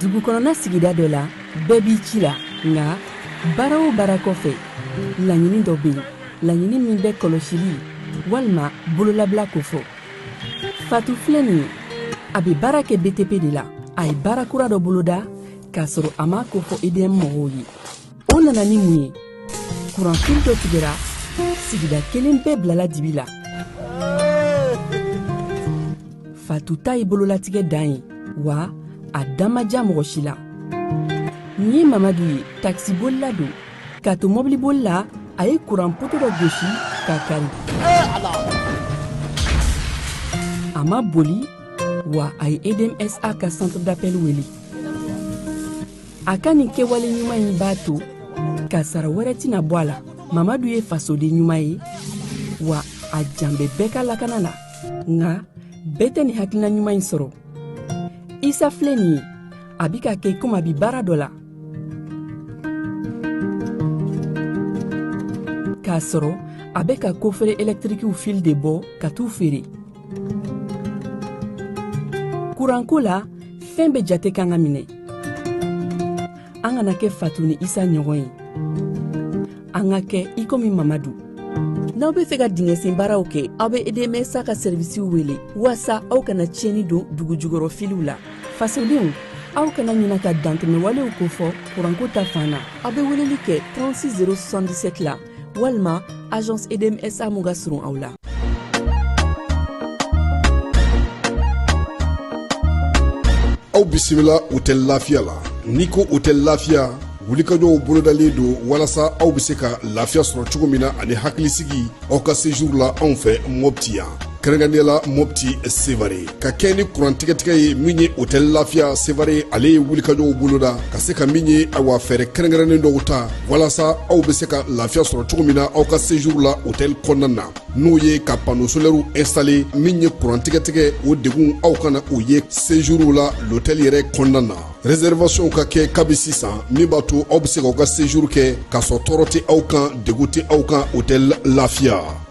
dugukɔnɔna sigida dɔ la bɛɛ b'i ci la nka baara o baara kɔfɛ laɲini dɔ bɛ yen laɲini min bɛ kɔlɔsili walima bololabila kofɔ fatu filɛ nin ye a bɛ baara kɛ btp de la a ye baara kura dɔ boloda k'a sɔrɔ a m'a kofɔ edm mɔgɔw ye o nana ni mun ye kuranfil dɔ tigɛra sigida kelen bɛɛ bilala dibi la fatu ta ye bololatigɛ dan ye wa a dan ma diya mɔgɔ si la nin ye mamadu ye takisibolila don k'a to mɔbiliboli la a ye kuran poto dɔ gosi k'a kari a ma boli wa a ye edmsa ka centre d'appel wele a ka nin kɛwale ɲuman in b'a to kasara wɛrɛ tɛna bɔ a la mamadu ye fasoden ɲuman ye wa a jan bɛ bɛɛ ka lakana la nka bɛɛ tɛ nin hakilina ɲuman in sɔrɔ isa filɛ nin ye a bi ka kɛ komi a bi baara dɔ la k'a sɔrɔ a bɛ ka kofere ɛlɛtirikiw fili de bɔ ka t'u feere kuranko la fɛn bɛɛ jate kan ka minɛ an kana kɛ fatu ni isa ɲɔgɔn ye an ka kɛ i komi mamadu n'aw be fɛ ka dingɛsen baaraw kɛ aw be edmsa ka sɛrivisiw wele waasa aw kana tiɲɛni don dugujukɔrɔ filiw la fasodenw aw kana ɲina ka dantɛmɛwalew kofɔ kuranko ta fan na aw be weleli kɛ 36 077 la walima agence edmsa mun ka surun aw la aw bisimila hotɛli lafiya la n'i ko hotɛli lafiya wulikajɔw bolodalen don walasa aw bɛ se ka lafiya sɔrɔ cogo min na ani hakilisigi aw ka sejuru la anw fɛ mɔpti yan kɛrɛnkɛrɛnnenya la mopti sevare ka kɛɲɛ ni kurantigɛtigɛ ye min ye hotɛli lafiya sevare ale ye wulikajɔw boloda ka se ka min ye awa fɛɛrɛ kɛrɛnkɛrɛnnen dɔw ta walasa aw be se ka lafiya sɔrɔ cogo min na aw ka sejuru la hotɛli kɔnɔna na n'o ye ka pano solɛriw instale min ye kurantigɛtigɛ o degun aw kana o ye sejuru la lotɛli yɛrɛ kɔnɔna na reservasiɔnw ka kɛ kabi sisan min b'a to aw be se k'aw ka sejuru kɛ k'a sɔrɔ tɔɔrɔ tɛ aw kan degun tɛ aw kan hotɛli lafiya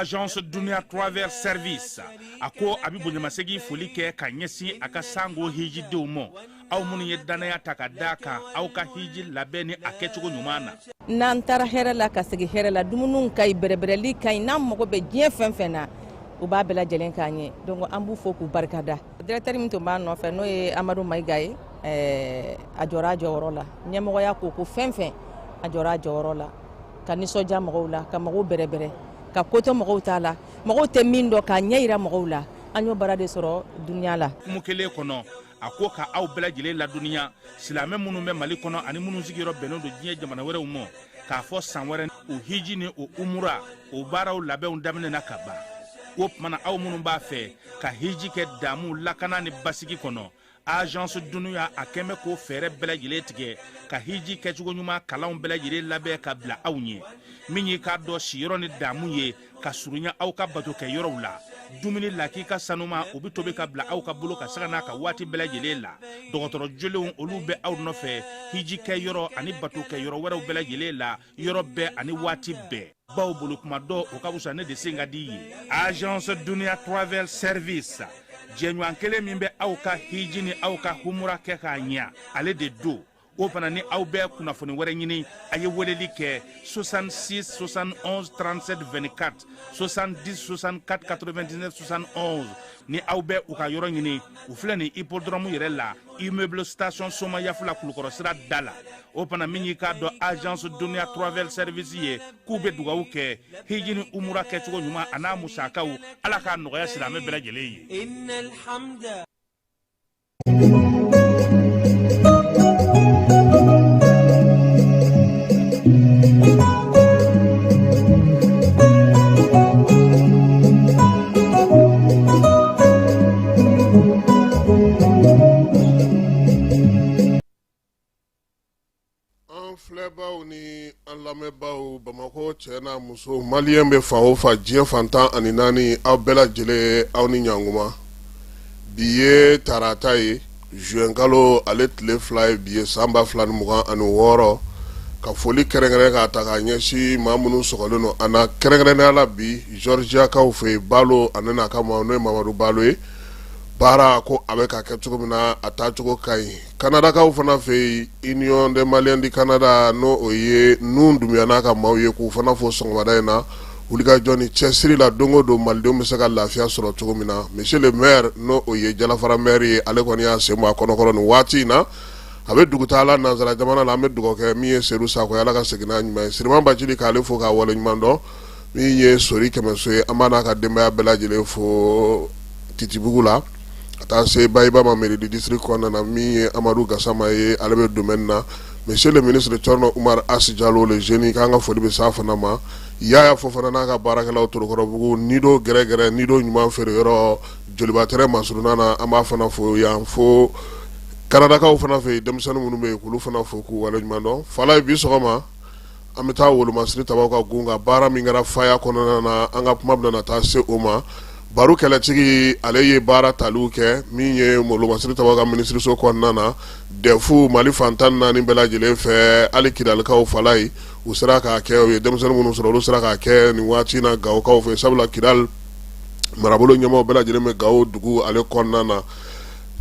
agence dunia travel service a ko a bɛ bonyamasegin foli kɛ ka ɲɛsin a ka sango hijidenw ma aw minnu ye dannaya ta k'a da a kan aw ka hiji labɛn ni a kɛcogo ɲuman na n'an taara hɛrɛ la ka segin hɛrɛ la dumuniw ka ɲi bɛrɛbɛrɛli ka ɲi n'an mago bɛ diɲɛ fɛn fɛn na u b'a bɛɛ lajɛlen k'an ye donc an b'u fo k'u barikada Directeur min tun b'a nɔfɛ n'o ye Amadu Mayiga ye ɛɛ a jɔra a jɔyɔrɔ la ɲɛmɔgɔya ko o ko fɛn fɛn a jɔra a jɔyɔrɔ la ka nisɔndiya mɔgɔw la ka mɔgɔw bɛrɛbɛrɛ ka ko to mɔgɔw t'a la mɔgɔw tɛ min dɔn k'a ɲɛ jira mɔgɔw la an y'o baara de sɔrɔ duniya la hukumu kelen kɔnɔ a ko ka aw bɛɛ lajɛlen ladɔnniya silamɛ minnu bɛ mali kɔnɔ ani minnu sigiyɔrɔ bɛnnen don diɲɛ jamana wɛrɛw ma k'a fɔ san wɛrɛ o hiji ni o umura o baaraw labɛnw daminɛna ka ban o tuma na aw minnu b'a fɛ ka hiji kɛ damu lakana ni basigi kɔnɔ agence duniya a kɛnbɛ k'o fɛɛrɛ bɛɛ lajɛlen tigɛ ka hiji kɛcogo ɲuman kalanw bɛɛ lajɛlen labɛn ka bila aw ɲɛ min y'i k'a dɔn siyɔrɔ ni damu ye ka surunya aw ka bato kɛ yɔrɔw la dumuni lakika sanuman o bɛ tobi ka bila aw ka bolo kan sanga n'a ka waati bɛɛ lajɛlen la dɔgɔtɔrɔ jolenw olu bɛ aw nɔfɛ hiji kɛ yɔrɔ ani bato kɛ yɔrɔ wɛrɛw bɛɛ lajɛlen la yɔrɔ bɛɛ ani waati bɛɛ bawo bolo kuma dɔn o ka fisa ne de sen ka di ye agence duniya travel service jɛɲɔgɔn kelen min bɛ aw ka hiji ni aw ka humura kɛ k'a ɲɛ ale de don o fana ni aw bɛ kunnafoni wɛrɛ ɲini a ye weleli kɛ 66 71 37 24 70 64 99 71 ni aw bɛ u ka yɔrɔ ɲini u filɛ nin hippodrome yɛrɛ la immeuble station somayaf la kulukɔrɔ sira da la o fana min y'i k'a dɔn agence duniya travel service ye k'u bɛ dugawu kɛ hiji ni umura kɛcogo ɲuman an'a musakaw ala k'a nɔgɔya silamɛ bɛɛ lajɛlen ye an filɛbaw ni an lamɛnbaw bamakɔ cɛ n'a muso maliyɛn bɛ fan o fan diɲɛ fan tan ani naani aw bɛɛ lajɛlen aw ni ɲankuma bi ye tarata ye zuwɛnkalo ale tile fila ye bi ye san ba fila ni mugan ani wɔɔrɔ ka foli kɛrɛnkɛrɛn k'a ta ka ɲɛsin maa minnu sɔgɔlen don an na kɛrɛnkɛrɛnnenya la bi Georgiakaw fɛ yen balo ani n'a ka maaw n'o ye mamadu balo ye baara ko a bɛ ka kɛ cogo min na a taacogo ka ɲi Kanadakaw fana fɛ yen union des maliens du Canada n' o ye nun dunbuya n'a ka maaw ye k'u fana fo sɔgɔmada in na wulikajɔ ni cɛsiri la don o don malidenw bɛ se ka lafiya sɔrɔ cogo min na monsieur le maire n' o ye jalafara maire ye ale kɔni y'a sen bɔ a kɔnɔkɔrɔ nin waati in na a bɛ dugu taa la nansara jamana la an bɛ dugawu kɛ min ye seyidu sakɔ ye ala ka segin n'a ɲuman ye siriman bacili k'ale fo k'a waleɲuman dɔn min ye sori kɛmɛso ye an b'a n'a ka denbaya bɛɛ lajɛlen fo titibugu la ka taa se bayiba ma mairie du district kɔnɔna na min ye amadu gasama ye ale bɛ domaine na monsieur le ministre Cɛrinɔ Umaru Asi Jalo le jeune k'an ka foli bɛ s'a fana ma Yaya Fofana n'a ka baarakɛlaw Torokɔrɔbugu Nido gɛrɛgɛrɛ Nido ɲuman feere yɔrɔ Joliba tɛrɛn masuruna na an b'a fana fo yan fo Kanadakaw fana fɛ yen denmisɛnnin minnu bɛ yen olu fana fo k'u waleɲumandɔn Falaye bi sɔgɔma An bɛ taa wolomasiri tabaw ka gun ka baara min kɛra faya kɔnɔna na an ka kuma bɛna taa se o ma baro kɛlɛtigi ale ye baara taliw kɛ min ye wolomasiri tabaw ka minisiriso kɔnɔna na dɛfu mali fan tan ni naani bɛɛ lajɛlen fɛ hali Kidalikaw Falaye u sera k'a kɛ u ye denmisɛnnin minnu sɔrɔ olu sera k'a kɛ nin waati in na Gawokaw fɛ sabula Kidali marabolo ɲɛmaaw bɛɛ lajɛlen bɛ Gawo dugu ale kɔnɔna na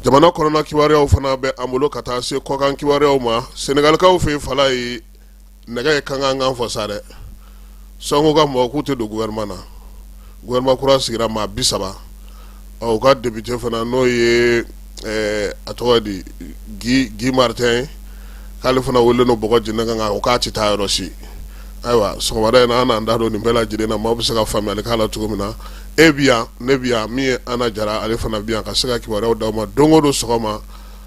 jamana kɔnɔna kibaruyaw fana bɛ an bolo ka taa se kɔkan kibaruyaw ma Senegalikaw fɛ Falaye nɛgɛ ye kankan kan fɔ sa dɛ Sonko ka mɔgɔ k'u tɛ don gouvernement na gouvernement kura sigira maa bi saba ɔ u ka député fana n'o ye ɛɛ a tɔgɔ di Guy Guy Martin k'ale fana wele no bɔgɔ jeni kan o k'a tɛ taa yɔrɔ si ayiwa sɔgɔmada in na an n'an da don nin bɛɛ lajɛlen na maaw bɛ se ka faamuyali k'a la cogo min na e bi yan ne bi yan min ye Ana Jara ale fana bi yan ka se ka kibaruyaw d'aw ma don o don sɔgɔma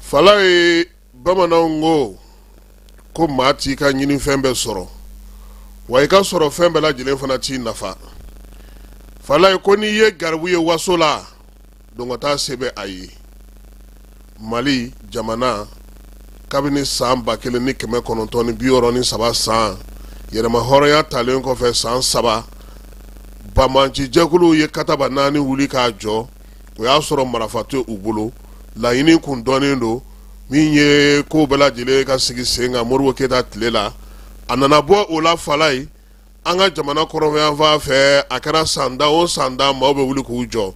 Falaye bamananw ko ko maa t'i ka ɲini fɛn bɛɛ sɔrɔ wa i ka sɔrɔ fɛn bɛɛ lajɛlen fana t'i nafa Falaye ko n'i ye garibu ye waso la dɔnkɔta se bɛ a ye mali jamana kabini san ba kelen ni kɛmɛ kɔnɔntɔn ni bi wɔɔrɔ ni saba san yɛrɛmahɔrɔnya talen kɔfɛ san saba banbaanci jɛkuluw ye kataba naani wuli k'a jɔ o y'a sɔrɔ marafa tɛ u bolo laɲini kun dɔnnen don min ye ko bɛɛ lajɛlen ka sigi sen kan Modibo Keyita tile la a nana bɔ o la Falaye an ka jamana kɔrɔnfɛyanfan fɛ a kɛra sanda o sanda maaw bɛ wuli k'u jɔ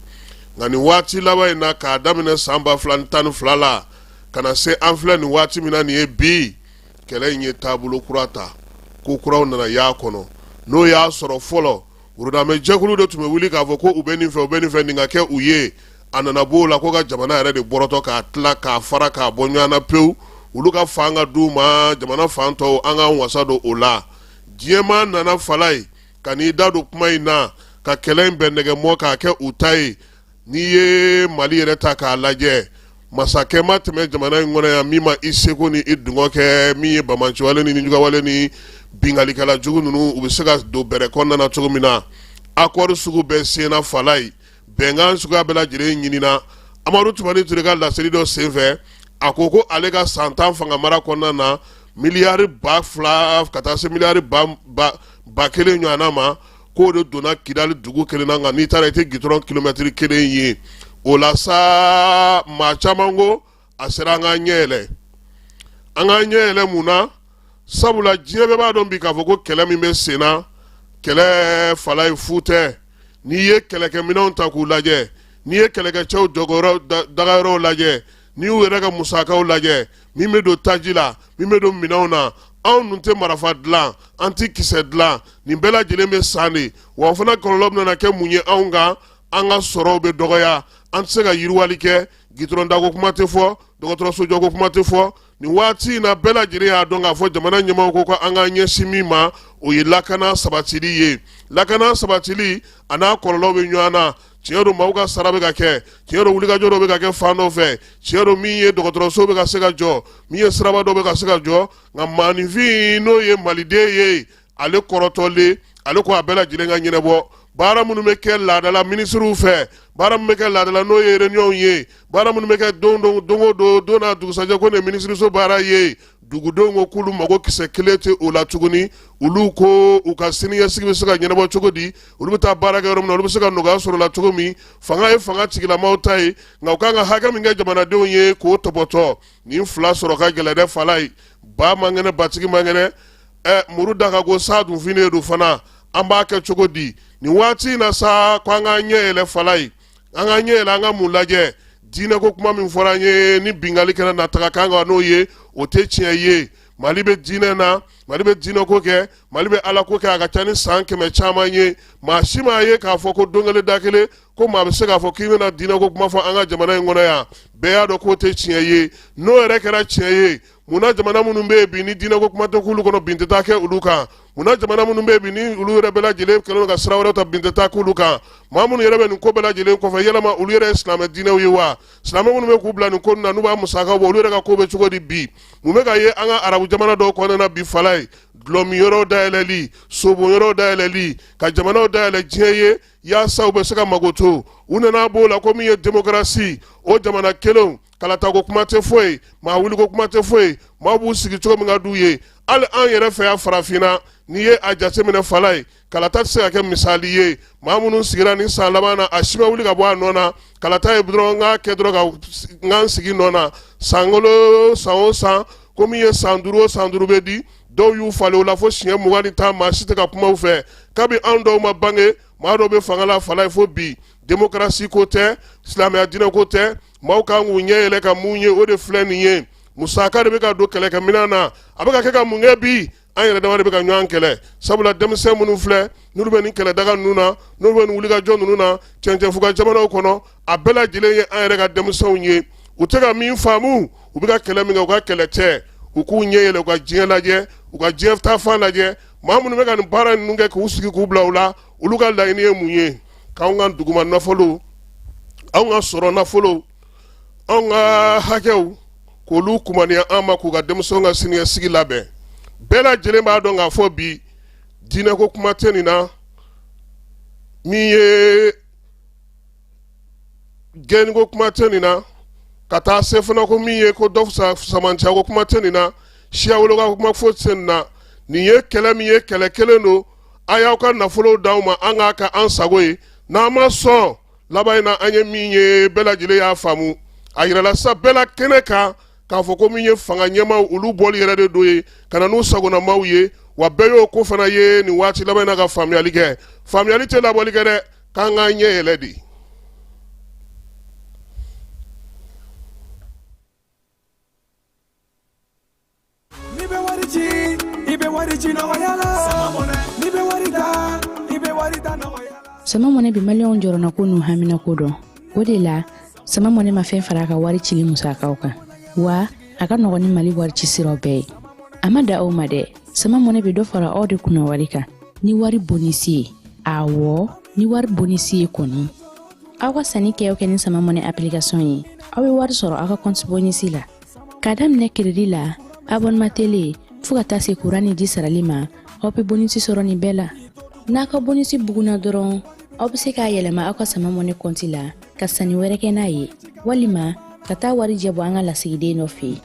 nka nin waati laban in na k'a daminɛ san ba fila ni tan ni fila la ka na se an filɛ nin waati min na nin ye bi kɛlɛ in ye taabolo kura ta ko kuraw nana y'a kɔnɔ n'o y'a sɔrɔ fɔlɔ Wurudamɛ jɛkulu de tun bɛ wuli k'a fɔ ko u bɛ nin fɛ u bɛ nin fɛ nin ka kɛ u ye a nana b'o la ko ka jamana yɛrɛ de bɔrɔtɔ k'a tila k'a fara k'a bɔ ɲɔgɔn na pewu olu ka fan ka di u ma jamana fan tɔw an k'an wasa don o la diɲɛma nana Falaye ka n'i da don kuma in na ka kɛlɛ in bɛn nɛgɛ mɔgɔ k'a kɛ u ta ye n'i ye mali yɛrɛ ta k'a lajɛ masakɛ ma tɛmɛ jamana in kɔnɔ yan min ma i seko ni i dungɔ kɛ min ye banbaanciwale ni nijuguyawale ni binkannikɛla jugu ninnu u bɛ se ka don bɛrɛ kɔnɔna na cogo min na akɔri sugu bɛɛ senna falaye bɛnkan suguya bɛɛ lajɛlen ɲinina amadu tumani ture ka laseli dɔ senfɛ a ko ko ale ka san tan fanga mara kɔnɔna na miliyari ba fila ka taa se miliyari ba kelen ɲɔgɔnna ma k'o de donna kidali dugu kelen na nka n'i taara i tɛ gitɔrɔn kilomɛtiri kelen ye o la sa maa caman ko a sera an k'an ɲɛ yɛlɛ an k'an ɲɛ yɛlɛ mun na sabula diɲɛ bɛɛ b'a dɔn bi k'a fɔ ko kɛlɛ min bɛ sen na kɛlɛ falaye fu tɛ n'i ye kɛlɛkɛminɛnw ta k'u lajɛ n'i ye kɛlɛkɛcɛw dagayɔrɔw lajɛ n'i y'u yɛrɛ ka musakaw lajɛ min bɛ don taji la min bɛ don minɛnw na anw dun tɛ marafa dilan an tɛ kisɛ dilan nin bɛɛ lajɛlen bɛ san de wa o fana kɔlɔlɔ bɛna kɛ mun ye anw kan an ka sɔrɔw bɛ dɔgɔya an tɛ se ka yiriwali kɛ gitɔrɔndako kuma tɛ fɔ dɔgɔtɔrɔsojɔko kuma tɛ fɔ nin waati in na bɛɛ lajɛlen y'a dɔn k'a fɔ jamana ɲɛmɔgɔ ko ka an ka ɲɛsin min ma o ye lakana sabatili ye lakana sabatili a n'a kɔlɔlɔ bɛ ɲɔgɔn na tiɲɛ don maaw ka sara bɛ ka kɛ tiɲɛ don wulikajɔ dɔ bɛ ka kɛ fan dɔ fɛ tiɲɛ don min ye dɔgɔtɔrɔso bɛ ka se ka jɔ min ye siraba dɔ bɛ ka se ka jɔ nka maaninfin n'o ye maliden ye ale kɔrɔtɔlen ale ko a bɛɛ lajɛlen ka ɲɛnabɔ baara minnu bɛ kɛ laadala minisiriw fɛ baara minnu bɛ kɛ laadala n'o ye réunion ye baara minnu bɛ kɛ don don don o don don n'a dugusajɛ ko nin ye minisiriso baara ye dugudenw ko k'olu mago kisɛ kelen tɛ o la tuguni olu ko u ka siniɲɛsigi bɛ se ka ɲɛnabɔ cogo di olu bɛ taa baara kɛ yɔrɔ min na olu bɛ se ka nɔgɔya sɔrɔ la cogo min fanga ye fanga tigilamaw ta ye nka u ka kan ka hakɛ min kɛ jamanadenw ye k'o tɔpɔtɔ nin fila sɔrɔ ka gɛlɛn dɛ falaye ba man kɛnɛ batigi man kɛnɛ ɛ muru da ka go san dun finnen don fana an b'a kɛ cogo di nin waati in na sa ko an k'an ɲɛ yɛlɛ falaye an ka ɲɛ yɛlɛ an ka mun lajɛ diinɛ ko kuma min fɔra an ye ni binkanni kɛra na taga kan kan n'o ye o tɛ tiɲɛ ye mali bɛ diinɛ na mali bɛ diinɛ ko kɛ mali bɛ ala ko kɛ a ka ca ni san kɛmɛ caman ye maa si m'a ye k'a fɔ ko don kelen da kelen ko maa bɛ se k'a fɔ k'i bɛna diinɛ ko kuma fɔ an ka jamana in kɔnɔ yan bɛɛ y'a dɔn k'o tɛ tiɲɛ ye n'o yɛrɛ kɛra tiɲɛ ye mun na jamana minnu bɛ yen bi ni diinɛko kuma tɛ k'olu kɔnɔ bin tɛ taa kɛ olu kan mun na jamana minnu bɛ yen bi ni olu yɛrɛ bɛɛ lajɛlen kɛlen don ka sira wɛrɛ ta bin tɛ taa k'olu kan maa minnu yɛrɛ bɛ nin ko bɛɛ lajɛlen kɔfɛ yala olu yɛrɛ ye silamɛ diinɛw ye wa silamɛ minnu bɛ k'u bila nin ko ninnu na n'u b'a musaka bɔ olu yɛrɛ ka ko bɛ cogo di bi mun bɛ ka ye an ka arabu jamana dɔw kɔnɔna na bi falaye dɔlɔminyɔrɔw dayɛlɛli sobonyɔrɔw dayɛlɛli ka jamanaw dayɛlɛ diɲɛ ye yaasa u bɛ se ka mago to u nana b'o la ko min ye demokarasi o jamana kelenw kalata ko kuma tɛ foyi ye maa wuli ko kuma tɛ foyi ye maa b'u sigi cogo min ka d'u ye hali an yɛrɛ fɛ yan farafinna n'i ye a jateminɛ falaye kalata tɛ se ka kɛ misali ye maa minnu sigira nin san laban na a si ma wuli ka bɔ a nɔ na kalata ye dɔrɔn n k'a kɛ dɔrɔn ka n ka n sigi nɔ na sankolo san o san ko min ye san duuru o san duuru bɛ di dɔw y'u falen o la fo siɲɛ mugan ni tan maa si tɛ ka kuma u fɛ kabi anw dɔw ma bange maa dɔw bɛ fanga la falaye fo bi demokarasi ko tɛ silamɛya diinɛ ko tɛ maaw kan k'u ɲɛ yɛlɛ ka mun ye o de filɛ nin ye musaka de bɛ ka don kɛlɛkɛminɛn na a bɛ ka kɛ ka mun kɛ bi an yɛrɛ dama de bɛ ka ɲɔgɔn kɛlɛ sabula denmisɛn minnu filɛ n'olu bɛ nin kɛlɛdaga ninnu na n'olu bɛ nin wulikajɔ ninnu na cɛncɛnfuga jamanaw kɔnɔ a bɛɛ lajɛlen ye an yɛrɛ ka denmisɛnw ye u tɛ ka min faamu u bɛ ka kɛlɛ min kɛ u ka kɛlɛ tɛ u k'u ɲɛ yɛlɛ u ka diɲɛ lajɛ u ka diɲɛ taafan lajɛ maa minnu bɛ ka nin baara ninnu kɛ k'u sigi k'u bila u la olu ka laɲini ye mun ye k'an ka duguma nafolo an ka sɔrɔ nafolo an ka hakɛw k'olu kumaniya an ma k'u ka denmisɛnw ka siniɲɛsigi labɛn bɛɛ lajɛlen b'a dɔn k'a fɔ bi diinɛko kuma tɛ nin na min ye gɛnni ko kuma tɛ nin na ka taa se fana ko min ye ko dɔ fisamanciya ko kuma tɛ nin na siyawoloma kuma foyi tɛ nin na nin ye kɛlɛ min ye kɛlɛ kelen don a y'aw ka nafolow d'anw ma an k'a kɛ an sago ye n'an ma sɔn laban in na an ye min ye bɛɛ lajɛlen y'a faamu a yirala sa bɛɛ la kɛnɛ kan k'a fɔ ko min ye fanga ɲɛmaaw olu bɔli yɛrɛ de don ye ka na n'u sagonamaaw ye wa bɛɛ y'o ko fana ye nin waati laban in na ka faamuyali kɛ faamuyali tɛ labɔli kɛ dɛ k'an k'an ɲɛ yɛlɛ de n'i bɛ wari ci i bɛ wari ci nɔgɔya la n'i bɛ wari ta i bɛ wari ta nɔgɔya la. sama mɔnɛ bi maliyɛnw jɔrɔna ko n'u hamina ko dɔn o de la sama mɔnɛ ma fɛn fara a ka wari cili musakaw kan wa a ka nɔgɔn ni mali wari ci siraw bɛɛ ye a ma dan o ma dɛ sama mɔnɛ bɛ dɔ fara aw de kunna wari kan ni wari bonisi ye awɔ ni wari bonisi ye kɔni aw ka sanni kɛ o kɛ ni sama mɔnɛ application ye aw bɛ wari sɔrɔ aw ka kɔnti bonisi la Ka daminɛ crédit la abonnement tele fo ka taa se kuran ni ji sarali ma aw bɛ bonisi sɔrɔ nin bɛɛ la n'a ka bonisi bugunna dɔrɔn aw bɛ se k'a yɛlɛma aw ka sama mɔnɛ kɔnti la ka sanni wɛrɛ kɛ n'a ye walima ka taa warijɛ bɔ an ka lasigiden dɔ fɛ yen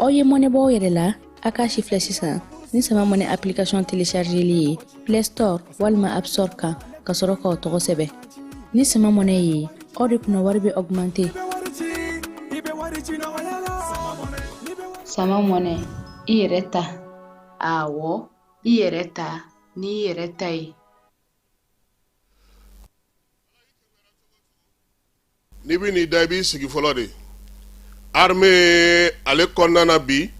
aw ye mɔnɛ bɔ aw yɛrɛ la a k'a sifilɛ sisan ni sama mɔnɛ application téléchargeli ye play store walima app store kan ka sɔrɔ k'aw tɔgɔ sɛbɛn ni sama mɔnɛ ye aw de kunna wari bɛ augmenter sama mɔnɛ i yɛrɛ ta awɔ i yɛrɛ ta ni i yɛrɛ ta ye n'i bɛ n'i da i b'i sigi fɔlɔ de armée ale kɔnɔna na bi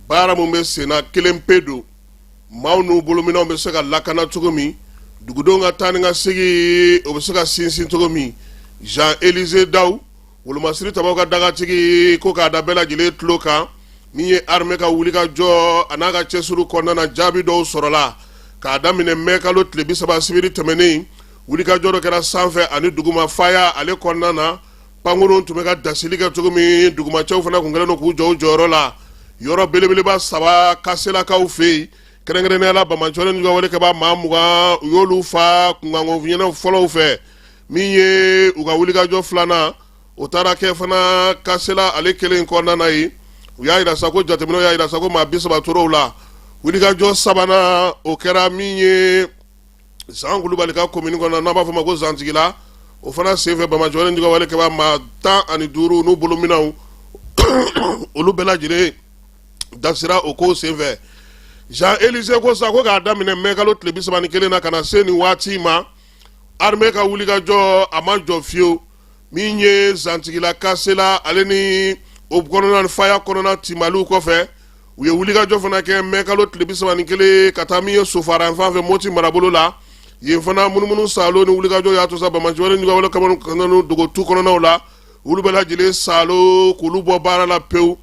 baara min bɛ sen na kelen pe don maaw n'u bolominɛw bɛ se ka lakana cogo min dugudenw ka taa ni ka segin o bɛ se ka sinsin cogo min Jean Élisée Daw wolomasiri tabaw ka dagatigi ko k'a da bɛɛ lajɛlen tulo kan min ye armée ka wulikajɔ a n'a ka cɛsiriw kɔnɔna na jaabi dɔw sɔrɔla k'a daminɛ mai kalo tile bi saba sibiri tɛmɛnen wulikajɔ dɔ kɛra sanfɛ ani duguma faya ale kɔnɔna na pankurun tun bɛ ka dasili kɛ cogo min dugumacɛw fana tun kɛlen don k'u jɔ u jɔyɔrɔ la yɔrɔ belebeleba saba kaselakaw fɛ yen kɛrɛnkɛrɛnnenya la bamajɔlen ni wale kɛba maa mugan u y'olu fa kunkankofiɲɛnaw fɔlɔw fɛ min ye u ka wulikajɔ filanan o taara kɛ fana kasela ale kelen kɔnɔna na yen u y'a jira sa ko jateminɛw y'a jira sa ko maa bi saba tor'o la wulikajɔ sabanan o kɛra min ye zan kulubali ka komini kɔnɔ n'an b'a fɔ ma ko zantigila o fana senfɛ bamajɔlen juguwale kɛba maa tan ani duuru n'u bolominɛw olu bɛɛ lajɛlen dasira o ko senfɛ zan elise ko sa ko k'a daminɛ mɛkalo tile bi saba ni kelen na ka na se nin waati ma armée ka wuli kajɔ a ma jɔ fiyewu min ye zantigila kasela ale ni o kɔnɔna faya kɔnɔna timaliw kɔfɛ u ye wulikajɔ fana kɛ mɛ kalo tile bi saba ni kelen ka taa min ye sofara fan fɛ moti marabolo la yen fana munumunu saalo ni wulikajɔ y'a to sa bamajɔlen juguwale kɛba dogo tu kɔnɔnaw la olu bɛɛ lajɛlen saalo k'olu bɔ baara la pewu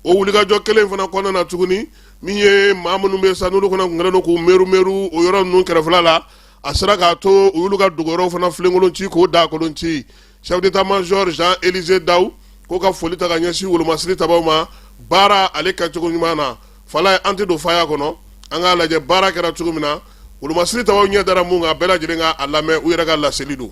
o wulikajɔ kelen fana kɔnɔna na tuguni min ye maa minnu bɛ sa n'olu fana tun kɛlen don k'u merumeru o yɔrɔ ninnu kɛrɛfɛla la a sera k'a to u y'olu ka dogoyɔrɔw fana filenkolon ci k'o dagakolon ci chef d'état major Jean Élisée Dawu k'o ka foli ta ka ɲɛsin wolomasiri tabaw ma baara ale kɛcogo ɲuman na fala ye an tɛ don faya kɔnɔ an k'a lajɛ baara kɛra cogo min na wolomasiri tabaw ɲɛ dara mun kan bɛɛ lajɛlen ka a lamɛn u yɛrɛ ka laseli don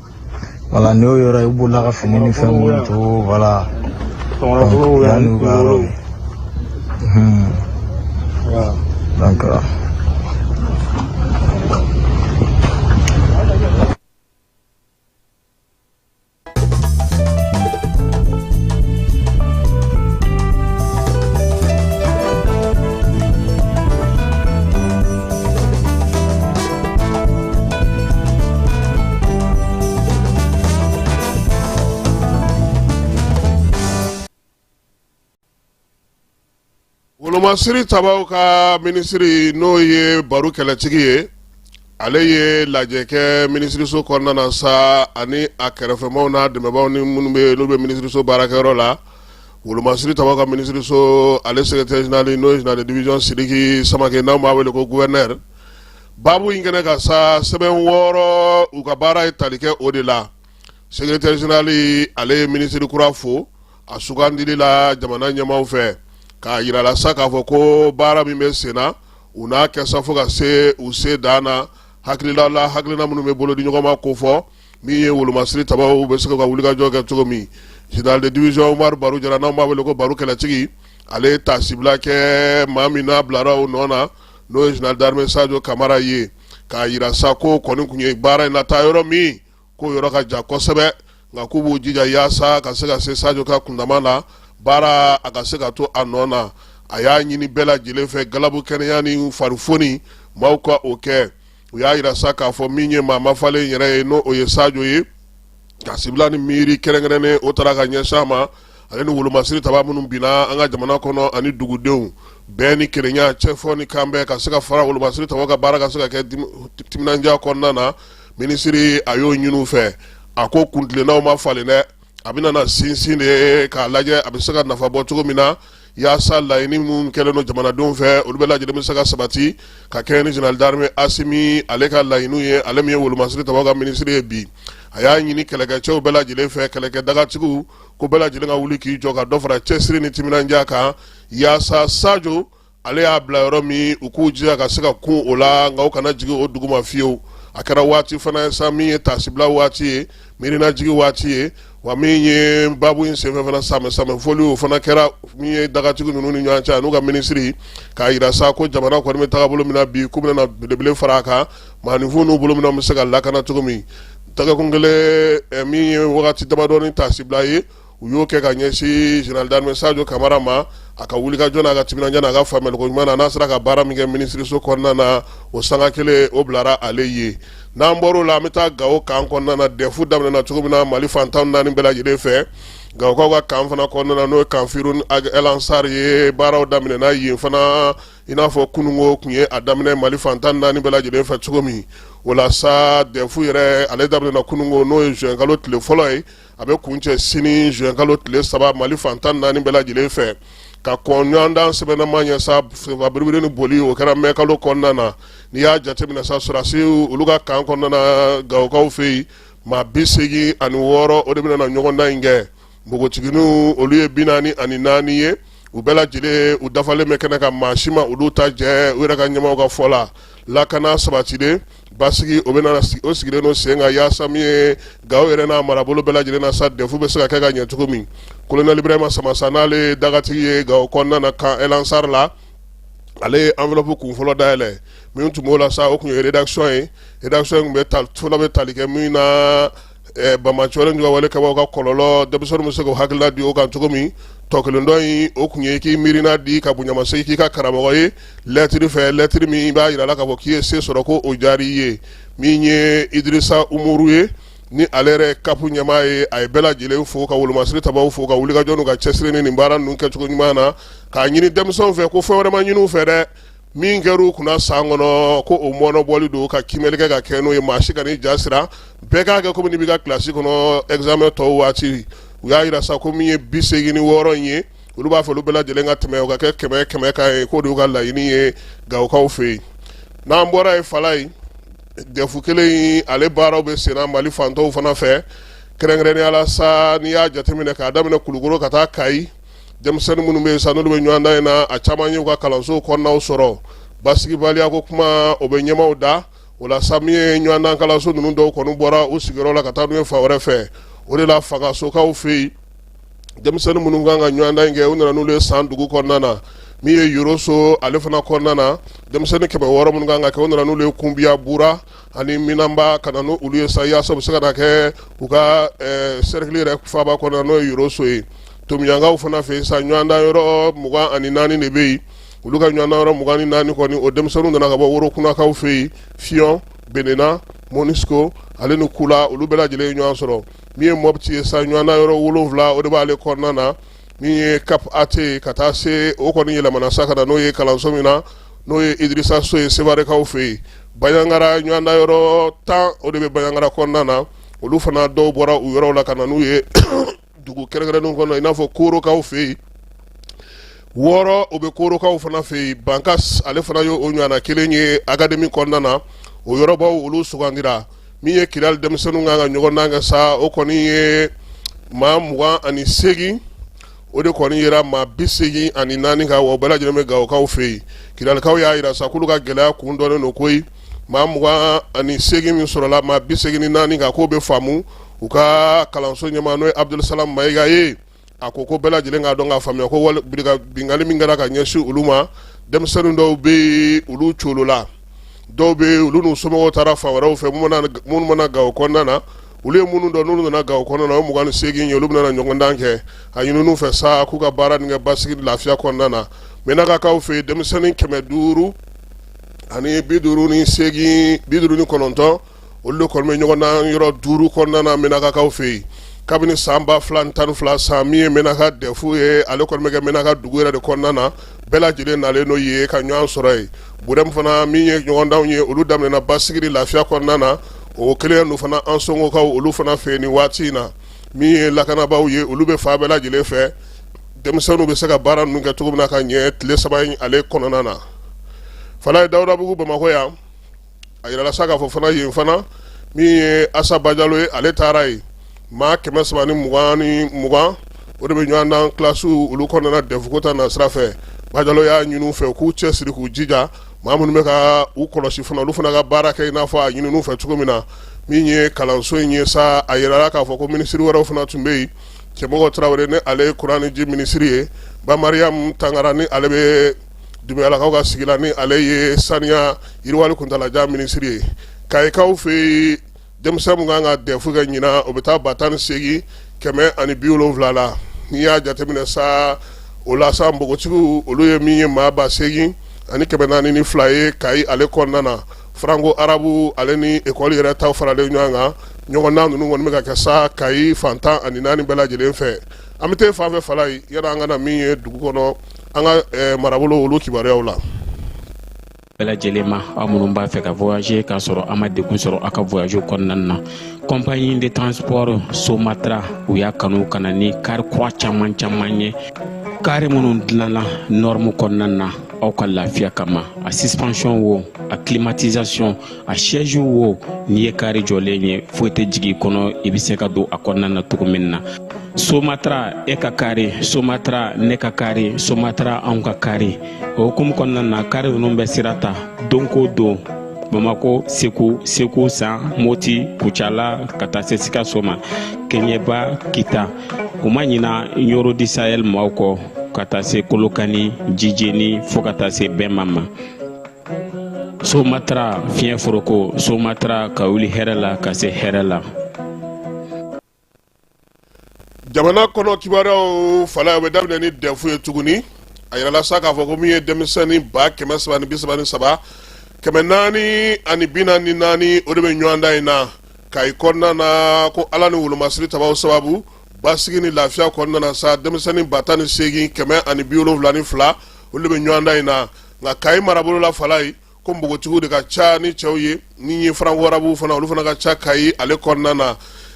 voilà n y'o yɔrɔ i b'ola ka fini ni fɛn minnu to voilà yanni u ka yɔrɔ ye donc Wolomasiri tabaw ka minisiri n'o ye Baru kɛlɛtigi ye ale ye lajɛ kɛ minisiriso kɔnɔna na sa ani a kɛrɛfɛmaw n'a dɛmɛbaaw ni minnu bɛ n'u bɛ minisiriso baarakɛyɔrɔ la wolomasiri tabaw ka minisiriso ale secrétaire général n'o ye général de division Sidiki Samake n'an b'a wele ko gɛ baabu in kɛnɛ kan sa sɛbɛn wɔɔrɔ u ka baara ye tali kɛ o de la sekretɛri zenerali ale ye minisiri kura fo a sugandili la jamana ɲɛmaaw fɛ k'a yirala sa k'a fɔ ko baara min bɛ sen na u n'a kɛ sa fo ka se u se dan na hakilila la hakilina minnu bɛ bolo di ɲɔgɔn ma ko fɔ min ye wolomasiri tabaw bɛ se ka wulikajɔ kɛ cogo min général de division Umar Baru Jara n'anw b'a wele ko Baru kɛlɛtigi ale ye taasibila kɛ maa min n'a bilara o nɔ na n'o ye général d'armée Sajo Kamara ye k'a yira sa k'o kɔni kun ye baara in lataa yɔrɔ min k'o yɔrɔ ka jan kosɛbɛ nka k'u b'u jija yaasa ka se ka se Sajo ka kundama la baara a ka se ka to a nɔ na a y'a ɲini bɛɛ lajɛlen fɛ galabu kɛnɛya ni farifoni maaw ka o kɛ u y'a yira sa k'a fɔ min ye maa mafalen yɛrɛ ye n'o ye Sajo ye taasibila ni miiri kɛrɛnkɛrɛnnen o taara ka ɲɛsin a ma ale ni wolomasiri taba minnu binna an ka jamana kɔnɔ ani dugudenw bɛn ni kelenya cɛfɔ ni kanbɛn ka se ka fara wolomasiri taba ka baara ka se ka kɛ timinandiya kɔnɔna na minisiri a y'o ɲini u fɛ a ko kuntilennaw ma falen dɛ a bɛna na sinsin de k'a lajɛ a bɛ se ka nafa bɔ cogo min na yaasa laɲini minnu kɛlen don jamanadenw fɛ olu bɛɛ lajɛlen bɛ se ka sabati ka kɛɲɛ ni général d'armée asimi ale ka laɲiniw ye ale min ye wolomasiri taba ka minisiri ye bi a y'a ɲini kɛlɛkɛcɛw bɛɛ lajɛlen fɛ kɛlɛkɛ dagatigiw ko bɛɛ lajɛlen ka wuli k'i jɔ ka dɔ fara cɛsiri ni timinandiya kan yaasa sajo ale y'a bila yɔrɔ min u k'u jija ka se ka kun o la nka u kana jigin o dugu ma fiyewu a kɛra waati fana ye sa min ye tasibila waati ye miirinajigi waati ye wa min ye babu in senfɛ fana sanbɛ sanbɛ foliw o fana kɛra min ye dagatigi ninnu ni ɲɔgɔn cɛ n'u ka minisiri k'a yira sa ko jamana kɔni bɛ taga bolo min na bi k'u bɛna belebele fara a kan maaninfin n'u bolo min na bɛ se ka lakana cogo min dagakun kelen eh, min ye wagati damadɔni taasibila ye u y'o kɛ ka ɲɛsin général d'armée sajo kamara ma a ka wulikajɔ n'a ka timinandiya n'a ka faamuyaliko ɲuman na n'a sera ka baara min kɛ minisiriso kɔnɔna na o sanga kelen o bilara ale ye n'an bɔr'o la an bɛ taa gawo kan kɔnɔna dɛfu daminɛna cogo min na mali fantan naani bɛɛ lajɛlen fɛ gawokaw ka kan fana kɔnɔna n'o ye camp firhoun el ansar ye baaraw daminɛna yen fana i n'a fɔ kununko kun ye a daminɛ mali fantan naani bɛɛ lajɛlen fɛ cogo min o la sa dɛfu yɛrɛ ale daminɛna kununko n'o ye zuwɛnkalo tile fɔlɔ ye a bɛ kuncɛ sini zuwɛnkalo tile saba mali fantan naani bɛɛ lajɛlen fɛ ka kɔn ɲɔgɔndan sɛbɛnnama ɲɛ sa biribiri ni boli o kɛra mɛkalo kɔnɔna na n'i y'a jateminɛ sa sɔrɔdasiw olu ka kan kɔnɔna gawokaw fɛ yen maa bi segin ani wɔɔrɔ o de bɛna na ɲɔgɔndan in kɛ npogotigininw olu ye bi naani ani naani ye u bɛɛ lajɛlen u dafalen bɛ kɛnɛ kan maa si ma olu ta jɛ u yɛrɛ ka ɲɛmaaw ka fɔ la lakana sabatilen Basigi o bɛna o sigilen don sen kan yaasa min ye Gawo yɛrɛ n'a marabolo bɛɛ lajɛlen na sa dɛfu bɛ se ka kɛ ka ɲɛ cogo min kolonɛli Ibrahima Samasa n'ale dagatigi ye Gawo kɔnɔna na kan El Ansar la ale ye enveloppe kun fɔlɔ dayɛlɛ min tun b'o la sa o tun ye rédaction ye rédaction in tun bɛ fɔlɔ bɛ tali kɛ min na ɛ banbaanci ka wale kɛbaw ka kɔlɔlɔ denmisɛnninw bɛ se k'u hakilila di o kan cogo min tɔ kelen dɔ in o tun ye k'i miirina di ka bonyamasegin k'i ka karamɔgɔ ye lɛtiri fɛ lɛtiri min b'a jira la k'a fɔ k'i ye se sɔrɔ ko o diyara i ye min ye idrisa Umaru ye ni ale yɛrɛ kap ɲɛmaa ye a ye bɛɛ lajɛlen fo ka wolomasiri tabaw fo ka wulikajɔ n'u ka cɛsiri ni nin baara ninnu kɛcogo ɲuman na k'a ɲini denmisɛnw fɛ ko fɛn wɛrɛ ma ɲini u fɛ dɛ min kɛra u kunna san kɔnɔ ko o mɔnɔbɔli don ka kiimɛli kɛ ka kɛ n'o ye maa si kan'i ja siran bɛɛ k'a kɛ komi n'i b'i ka kilasi kɔnɔ examen tɔw waati u y'a jira sa ko min ye bi seegin ni wɔɔrɔ in ye olu b'a fɛ olu bɛɛ lajɛlen ka tɛmɛ o ka kɛ kɛmɛ kɛmɛ kan ye k'o de y'u ka laɲini ye Gawokaw fɛ yen n'an bɔra yen fan na yen dɛfu kelen in ale baaraw bɛ senna Mali fan tɔw fana fɛ kɛrɛnkɛrɛnnenya la sa n'i y'a jateminɛ k'a daminɛ Kulukoro ka taa Kayi denmisɛnnin minnu bɛ yen sa n'olu bɛ ɲɔgɔndan in na a caman y'u ka kalanso kɔnɔnaw sɔrɔ basigibaliya ko kuma o bɛ ɲɛmaaw da o la sa min ye ɲɔgɔndan kalanso ninnu dɔw kɔni bɔra u sigiyɔrɔ la ka taa n'u ye fan wɛrɛ fɛ o de la Fangasokaw fɛ yen denmisɛnnin minnu kan ka ɲɔgɔndan in kɛ u nana n'olu ye san dugu kɔnɔna na min ye yoroso ale fana kɔnɔna na denmisɛnnin kɛmɛ wɔɔrɔ minnu kan k'a kɛ u nana n'olu ye kunbiya bura ani Minanba ka na n' olu ye sa yaasa u bɛ se ka n'a kɛ u ka sɛrikili yɛrɛ faaba kɔnɔ n'o ye yɔrɔso ye Tominyankaw fana fɛ sa ɲɔgɔndan yɔrɔ mugan ani naani de bɛ yen olu ka ɲɔgɔndan yɔrɔ mugan ni naani kɔni o denmisɛnninw nana ka bɔ Worokunakaw fɛ yen fiyɔn Benena Moniso ale ni kula olu bɛɛ lajɛlen ye ɲɔgɔn sɔrɔ min ye mɔti ye sa ɲɔgɔndan yɔrɔ wolonwula o de b'ale kɔnɔna na min ye kap ate ka taa se o kɔni yɛlɛmana sa ka na n'o ye kalanso min na n'o ye idirisa so ye sevarekaw fɛ yen bayangara ɲɔgɔndan yɔrɔ tan o de bɛ bayangara kɔnɔna na olu fana dɔw bɔra u yɔrɔw la ka na n'u ye dugu kɛrɛnkɛrɛnnenw kɔnɔ i n'a fɔ koorokaw fɛ yen wɔɔrɔ o bɛ koorokaw fana fɛ yen bankas ale fana ye o ɲɔgɔnna kelen ye akademi kɔnɔna na o yɔrɔbaw olu sugandira min ye Kidali denmisɛnninw kan ka ɲɔgɔndan kɛ sa o kɔni ye maa mugan ani segin o de kɔni yera maa bi segin ani naani kan wa o bɛɛ lajɛlen bɛ Gawokaw fɛ yen Kidalikaw y'a jira sa k'olu ka gɛlɛya kun dɔnnen don koyi maa mugan ani segin min sɔrɔla maa bi segin ni naani kan k'o bɛ faamu u ka kalanso ɲɛmaa n'o ye Abudulisalamu Mayiga ye a ko ko bɛɛ lajɛlen k'a dɔn k'a faamuya ko wali binkanni min kɛra ka ɲɛsin olu ma denmisɛnnin dɔw bɛ yen olu coolola dɔw bɛ yen olu n'u somɔgɔw taara fan wɛrɛw fɛ minnu mana Gawo kɔnɔna na olu ye minnu dɔn n'olu nana Gawo kɔnɔna na o ye mugan ni seegin ye olu bɛna ɲɔgɔndan kɛ a ɲinin'u fɛ sa k'u ka baara nin kɛ basigi lafiya kɔnɔna na Menakakaw fɛ yen denmisɛnnin kɛmɛ duuru ani bi duuru ni seegin bi duuru ni kɔnɔntɔn olu de kɔni bɛ ɲɔgɔndan yɔrɔ duuru kɔnɔna na Menakakaw fɛ yen kabini san ba fila tan ni fila san min ye Menaka dɛfu ye ale kɔni bɛ kɛ Menaka dugu yɛrɛ de kɔnɔna na bɛɛ lajɛlen nalen n'o ye ka ɲɔgɔn sɔrɔ yen Burɛmu fana min ye ɲɔgɔndan ye olu daminɛna basigi lafiya kɔnɔna na o kelen ninnu fana Ansɔngɔkaw olu fana fɛ nin waati in na min ye lakanabaaw ye olu bɛ fan bɛɛ lajɛlen fɛ denmisɛnninw bɛ se ka baara ninnu kɛ cogo min na ka ɲɛ tile saba in ale kɔnɔna na fana ye dawudabugu bamakɔ yan a yirala sa k'a fɔ fana yen fana min ye Asa Bajalo ye ale taara yen maa kɛmɛ saba ni mugan o de bɛ ɲɔgɔndan kilasiw olu kɔnɔna na dɛfuko ta nasira fɛ bajalo y'a ɲini u fɛ k'u cɛsiri k'u jija maa minnu bɛ ka u kɔlɔsi fana olu fana ka baara kɛ i n'a fɔ a ɲinin'u fɛ cogo min na min ye kalanso in ye sa a yirala k'a fɔ ko minisiri wɛrɛw fana tun bɛ yen cɛmɔgɔ tarawele ni ale ye kuran ni ji minisiri ye Ba Mariam Tangara ni ale bɛ Dunbuyalakaw ka sigi la ni ale ye saniya yiriwali kuntaalajan minisiri ye Kayikaw fɛ yen denmisɛn min kan ka dɛfu kɛ ɲinan o bɛ taa ba tan ni seegin kɛmɛ ani bi wolonwula la n'i y'a jateminɛ sa o la npogotigiw olu ye min ye maa ba seegin ani kɛmɛ naani ni fila ye Kayi ale kɔnɔna na faranko arabu ale ni ekɔli yɛrɛ ta faralen ɲɔgɔn kan ɲɔgɔndan ninnu kɔni bɛ ka kɛ sa Kayi fan tan ani naani bɛɛ lajɛlen fɛ an bɛ taa fan fɛ fara ye yala an ka na min ye dugu kɔnɔ an ka marabolo olu kibaruyaw la bɛɛ lajɛlen ma aw minnu b'a fɛ ka voyager k'a sɔrɔ a ma degun sɔrɔ a ka voyage kɔnɔna na compagnie de transport somatra u y'a kanu ka na ni kari kura caman caman ye kari minnu dilanna norme kɔnɔna na aw ka lafiya kama a suspension wo a climatisation a siège wo n'i ye kari jɔlen ye foyi tɛ jigin kɔnɔ i bɛ se ka don a kɔnɔna na cogo min na somatra e ka kari somatra ne ka kari somatra anw ka kari o hukumu kɔnɔna na kari ninnu bɛ sira ta don ko don bamako segu segu san moti kucala ka taa se sikaso ma keɲeba kita u ma ɲina ɲɔrɔ du sahel maaw kɔ ka taa se kolokani jijeni fɔɔ ka taa se bema ma somatra fiɲɛ foroko somatra ka wuli hɛrɛ la ka se hɛrɛ la jamana kɔnɔ kibaruyaw fala bɛ daminɛ ni dɛfu ye tuguni a yirala sa k'a fɔ ko min ye denmisɛnnin ba kɛmɛ saba ni bi saba ni saba kɛmɛ naani ani bi naani ni naani o de bɛ ɲɔgɔndan in na kayi kɔnɔna na ko ala ni wolomasiri tabaw sababu basigi ni lafiya kɔnɔna na sa denmisɛnnin ba tan ni seegin kɛmɛ ani bi wolonwula ni fila olu de bɛ ɲɔgɔndan in na nka kayi marabolo la fala ye ko npogotigiw de ka ca ni cɛw ye ni ye franko arabu fana olu fana ka ca kayi ale kɔnɔna na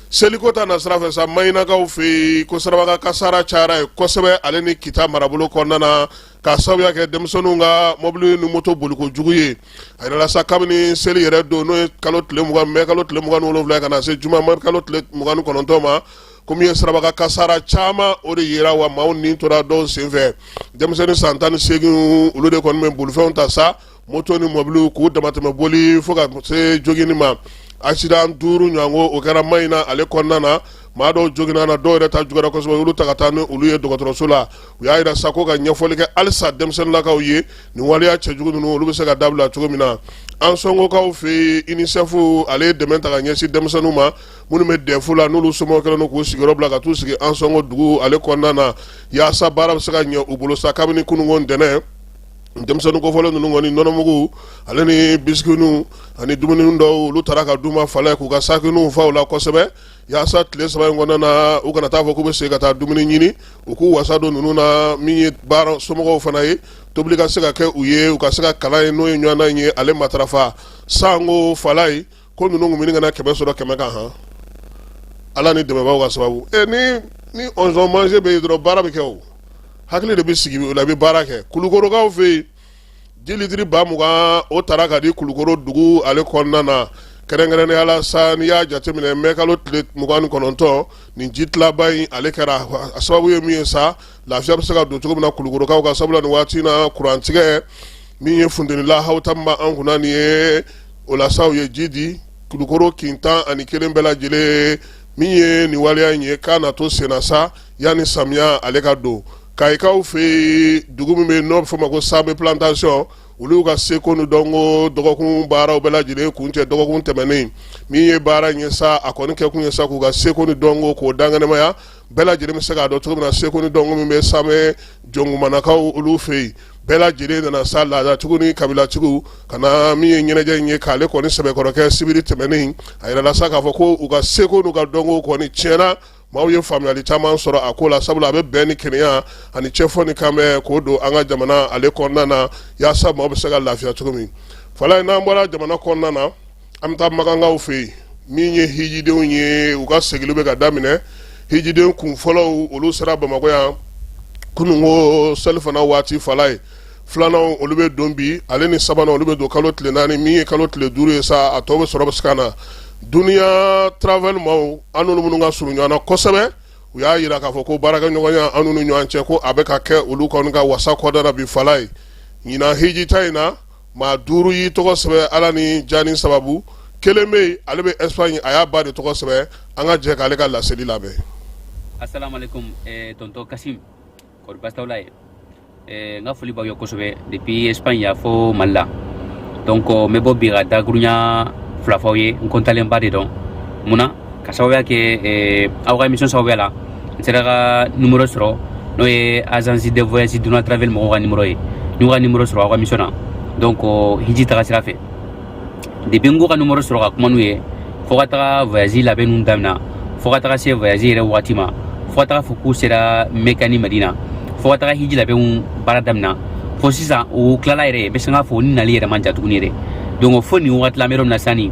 seliko ta na sira fɛ sa mayinakaw fɛ yen ko sirabakan kasara cayara yen kosɛbɛ ale ni kita marabolo kɔnɔna na ka sababuya kɛ denmisɛnninw ka mɔbili ni moto boliko jugu ye a yirala sa kabini seli yɛrɛ don n'o ye kalo tile mugan mɛ kalo tile mugan ni wolonwula ka na se juma mɛ kalo tile mugan ni kɔnɔntɔn ma ko min ye sirabakan kasara caman o de yira wa maaw ni tora dɔw senfɛ denmisɛnnin san tan ni seegin olu de kɔni bɛ bolifɛnw ta sa moto ni mɔbiliw k'u damatɛmɛ boli fo ka se joginni ma asidan duuru ɲɔgɔn o kɛra mayina ale kɔnɔna na maa dɔw joginna na dɔw yɛrɛ ta juguyara kosɛbɛ olu ta ka taa ni olu ye dɔgɔtɔrɔso la u y'a yira sa ko ka ɲɛfɔli kɛ halisa denmisɛnninlakaw ye nin waleya cɛjugu ninnu olu bɛ se ka dabila cogo min na ansɔngokaw fɛ yen unicef ale ye dɛmɛ ta ka ɲɛsin denmisɛnninw ma minnu bɛ dɛfu la n'olu somɔgɔw kɛlen k'u sigiyɔrɔ bila ka taa u sigi ansɔngo dugu ale kɔnɔna na yaasa baara bɛ se ka ɲɛ u bolo sa kabini kunun ntɛnɛn denmisɛnnin kofɔlen ninnu kɔni nɔnɔmugu ale ni bisikiw ani dumuni dɔw olu taara ka d'u ma fala k'u ka sakiw fa u la kosɛbɛ yaasa tile saba in kɔnɔna na u kana taa fɔ k'u bɛ se ka taa dumuni ɲini u k'u wasa don ninnu na min ye baara somɔgɔw fana ye tobili ka se ka kɛ u ye u ka se ka kalan in n'o ye ɲɔgɔndan ye ale matarafa ansɔngo fala ye ko ninnu tun bɛ ka na kɛmɛ sɔrɔ kɛmɛ kan han ala ni dɛmɛbaaw ka sababu ɛ ni ni ɔnzɔn manje bɛ yen dɔrɔn baara bɛ kɛ o hakili de bɛ sigi o la i bɛ baara kɛ kulukorokaw fɛ yen ji litiri ba mugan o taara ka di kulukoro dugu ale kɔnɔna na kɛrɛnkɛrɛnnenya la sa n'i y'a jateminɛ mɛkalo tile mugan ni kɔnɔntɔn nin ji tilaba in ale kɛra a sababu ye min ye sa lafiya bɛ se ka don cogo min na kulukorokaw ka sabula nin waati in na kurantigɛ min ye funteni lahawuta min b'an kunna nin ye o la sa u ye ji di kulukoro kin tan ani kelen bɛɛ lajɛlen min ye nin waleya in ye k'a na to senna sa yanni samiya ale ka don kayikaw fɛ yen dugu min bɛ yen n'o bɛ fɔ ma ko same plantation olu ka seko ni dɔnko dɔgɔkun baaraw bɛɛ lajɛlen kuncɛ dɔgɔkun tɛmɛnen min ye baara in ye sa a kɔni kɛ kun ye sa k'u ka seko ni dɔnko k'o laɲɛnamaya bɛɛ lajɛlen bɛ se k'a dɔn cogo min na seko ni dɔnko min bɛ samɛ jɔnkumanakaw olu fɛ yen bɛɛ lajɛlen nana sa laadatigiw ni kabilatigiw ka na min ye ɲɛnajɛ in ye k'ale kɔni sɛbɛkɔrɔ kɛ sibiri tɛmɛnen a yirala sa k'a fɔ ko u ka seko n'u ka dɔnko kɔni tiɲɛ na maaw ye faamuyali caman sɔrɔ a ko la sabula a bɛ bɛn ni kelenya ani cɛfɔ ni kanbɛn k'o don an ka jamana ale kɔnɔna na yaasa maaw bɛ se ka lafiya cogo min fala in n'an bɔra jamana kɔnɔna na An bɛ taa makankaw fɛ yen min ye hijidenw ye u ka segili bɛ ka daminɛ hijiden kun fɔlɔw olu sera bamakɔ yan kunun ko selifana waati fala ye filanan olu bɛ don bi ale ni sabanan olu bɛ don kalo tile naani min ye kalo tile duuru ye sa a tɔw bɛ sɔrɔ bɛ se ka na dunya travel maaw an n'olu minnu ka surun ɲɔgɔn kosɛbɛ u y'a yira k'a fɔ ko baarakɛɲɔgɔnya an ni ɲɔgɔn cɛ ko a bɛ ka kɛ olu kɔni ka wasa kɔda bi fala ye ɲinan hiji ta in na maa duuru y'i tɔgɔ sɛbɛn ala ni jaani sababu kelen bɛ yen ale bɛ espagne a y'a ba de tɔgɔ sɛbɛn an ka jɛ k'ale ka laseli lamɛn asalaamaaleykum eh, tonton kasim kɔri baasi t'aw la yen eh, n ka foli b'aw ye kosɛbɛ depuis espagne yan fo mali la donc n bɛ bɔ bi ka dakurunya fila fɔ aw ye n kɔntalenba de don mun na ka sababuya kɛ eh, aw ka émission sababuya la n sera ka numero sɔrɔ n'o ye agence de voyage dunya travel mɔgɔw ka numero ye n y'u ka numero sɔrɔ aw ka émission na donc hiji taga sira fɛ depuis n k'u ka numero sɔrɔ ka kuma n'u ye fo ka taga voyage labɛn ninnu damina fo ka taga se voyage yɛrɛ wagati ma fo ka taga fo k'u sera mɛka ni madina fo ka taga hiji labɛnw baara damina fo sisan u tilala yɛrɛ bɛ se k'a fɔ u ni nali yɛrɛ man jan tuguni yɛrɛ donc fo nin wagati la n bɛ yɔrɔ min na sisan nin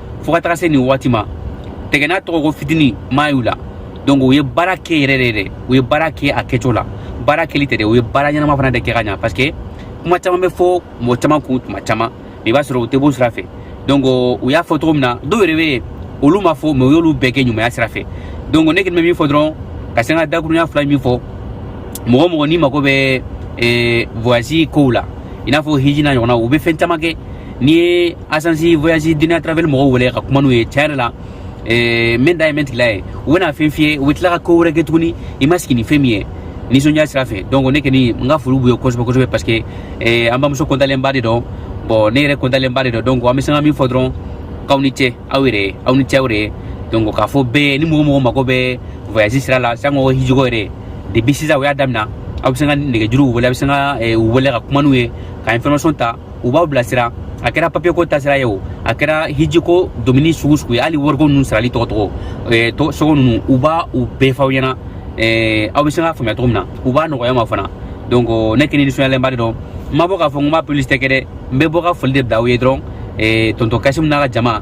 fo ka taga se nin waati ma tiɲɛ na tɔgɔ ko fitini ma y'u la donc u ye baara kɛ yɛrɛ de dɛ u ye baara kɛ a kɛcogo la baara kɛli tɛ dɛ u ye baara ɲɛnama fana de kɛ ka ɲa parce que kuma caman bɛ fɔ mɔgɔ caman kun tuma caman mais i b'a sɔrɔ u tɛ b'o sira fɛ donc u y'a fɔ cogo min na dɔw yɛrɛ bɛ yen olu ma fɔ mais u y'olu bɛɛ kɛ ɲumanya sira fɛ donc ne kɔni bɛ min fɔ dɔrɔn ka se n ka dakurunya fila min fɔ mɔgɔ mɔgɔ n'i mago bɛ voyage kow la i n'a fɔ hiji n'a ɲɔgɔnna u bɛ fɛn caman kɛ n'i ye agence voyage dunya travel mɔgɔw wele ka kuma n'u ye tiɲɛ yɛrɛ la eh, min da ye min tigila ye u bɛna fɛn f'i ye u bɛ tila ka ko wɛrɛ kɛ tuguni i ma sigi ni fɛn min ye nisɔndiya sira fɛ donc ne kɔni n ka foli b'u ye kosɛbɛ kosɛbɛ parce que eh, an bamuso kɔntalenba de don bon ne yɛrɛ kɔntalenba de don donc an bɛ se ka min fɔ dɔrɔn k'aw ni ce aw yɛrɛ ye aw ni ce aw yɛrɛ ye donc k'a fɔ bɛɛ ni mɔgɔ mɔgɔ mago bɛ voyage sira la sango hijiko yɛrɛ depuis sisan u y'a damina aw bɛ se ka nɛgɛjuru wele aw bɛ se ka u wele ka kuma n'u ye ka information ta u b'aw bilasira a kɛra papiyeko tasira ye o a kɛra hijiko domuni sugu sugu ye hali wariko ninnu sarali tɔgɔ tɔgɔ eh, tɔ sogo ninnu u b'a u bɛɛ f'aw ɲɛna eh, aw bɛ se k'a faamuya cogo min na u b'a nɔgɔya ma fana donc ne kɔni nisɔndiyalenba de don n ma bɔ k'a fɔ n ko n b'a publicité kɛ dɛ n bɛ bɔ ka foli de bila aw ye dɔrɔn eh, tonton kasimu n'a ka jama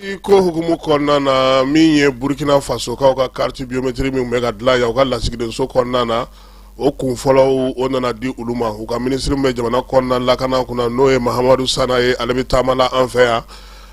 I ko hukumu kɔnɔna na min ye burukina fasokaw ka carte biométrique min bɛ ka dilan yan u ka lasigidenso kɔnɔna na o kun fɔlɔw o nana di olu ma u ka minisiri bɛ jamana kɔnɔna lakana kunna n'o ye Mahamadu Sana ye ale bɛ taama la an fɛ yan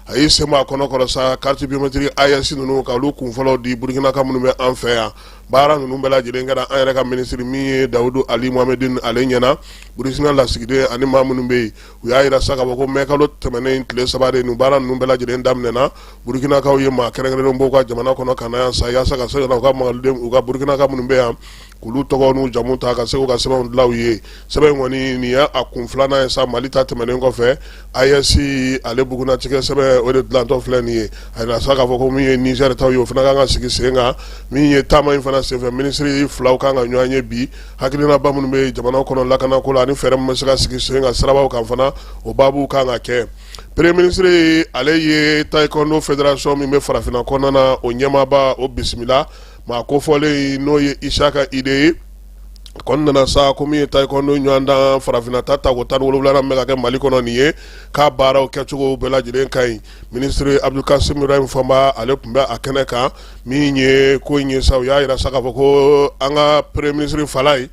a y'i sen a kɔnɔ kɔnɔ sa carte biométrique AES ninnu ka olu kun fɔlɔ di burukinaka minnu bɛ an fɛ yan baara ninnu bɛɛ lajɛlen kɛra an yɛrɛ ka minisiri min ye Dawudu Ali Mohamedine ale ɲɛna burukina lasigiden ani maa minnu bɛ yen u y'a jira sa k'a fɔ ko mɛ kalo tɛmɛnen in tile saba de nin baara ninnu bɛɛ lajɛlen daminɛna burukinakaw ye maa kɛrɛnkɛrɛnnen bɔ u ka jamana kɔnɔ ka na yan sa yaasa ka se u ka maliden u ka burukinaka minnu bɛ yan k'olu tɔgɔ n'u jamu ta ka se k'u ka sɛbɛnw dilan u ye sɛbɛn kɔni nin y'a kun filanan ye sa mali ta tɛmɛnen kɔfɛ AES ale bugunnatigɛ sɛbɛn o de dilantɔ filɛ nin ye a jira sa k'a fɔ ko min ye Nizɛri ta ye o fana kan ka sigi sen kan min ye taama in fana senfɛ minisiri filaw kan ka ɲɔgɔn ye bi hakilinaba minnu bɛ jamana kɔnɔ lakanako la ani fɛɛrɛ min bɛ se ka sigi sen kan sirabaw kan fana o baabu kan ka kɛ premier ministre ale ye taekwondo fédération min bɛ farafinna kɔnɔna na o ɲɛmaaba o bisimila maa kofɔlen n'o ye Isaka Ide ye kɔni nana sa ko min ye taekwondo ɲɔgɔndan farafinna ta tako tan ni wolonwulanan min bɛ ka kɛ mali kɔnɔ nin ye k'a baaraw kɛcogo bɛɛ lajɛlen ka ɲi Minisiri Abdul Kasim Ibrahim Fɔnba ale tun bɛ a kɛnɛ kan min ye ko in ye sa u y'a jira sa k'a fɔ ko an ka Premier minisiri Falaye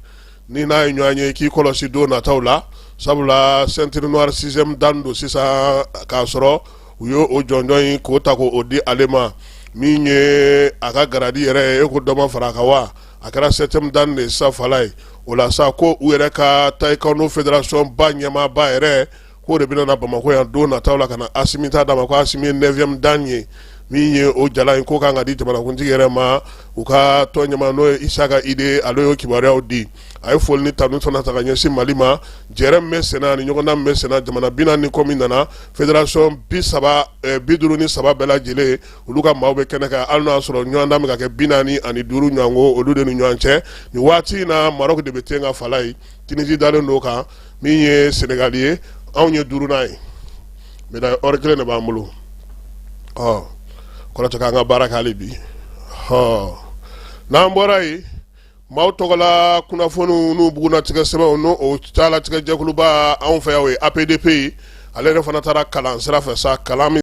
ni n'a ye ɲɔgɔn ye k'i kɔlɔsi don nataw la sabula ceinture noire sixième dan don sisan k'a sɔrɔ u ye o jɔnjɔn in k'o ta k'o di ale ma min ye a ka garadi yɛrɛ ye e ko dɔ ma fara a kan wa a kɛra septième dan de ye sa Falaye o la sa ko u yɛrɛ ka taekwondo fédération ba ɲɛmaaba yɛrɛ k'o de bɛna na bamakɔ yan don nataw la ka na Asimi ta d'a ma ko Asimi ye neuvième dan ye min ye o jala in ko kan ka di jamanakuntigi yɛrɛ ma u ka tɔn ɲɛmaa n'o ye Isaka Ide ale y'o kibaruyaw di a ye foli ni tanu fana ta ka ɲɛsin mali ma jɛrɛ min bɛ sen na ani ɲɔgɔndan min bɛ sen na jamana bi naani kɔ min nana fédération bi saba eh, bi duuru ni saba bɛɛ lajɛlen olu ka maaw bɛ kɛnɛ kan hali n'a y'a sɔrɔ ɲɔgɔndan bɛ ka kɛ bi naani ani duuru ɲɔgɔnko olu de ni ɲɔgɔn cɛ nin waati in na Maroc de bɛ ten kan Falaye Tunisie dalen don kan min ye sɛnɛgali ye anw ye duurunan ye médaille or kelen de b'an bolo o kɔrɔ de k'an ka baara kɛ hali bi ɔ n'an bɔra yen maaw tɔgɔla kunnafoniw n'u bugunnatigɛ sɛbɛnw n'o o taalatigɛ jɛkuluba anw fɛ yan o ye APDP ye ale yɛrɛ fana taara kalan sira fɛ sa kalan min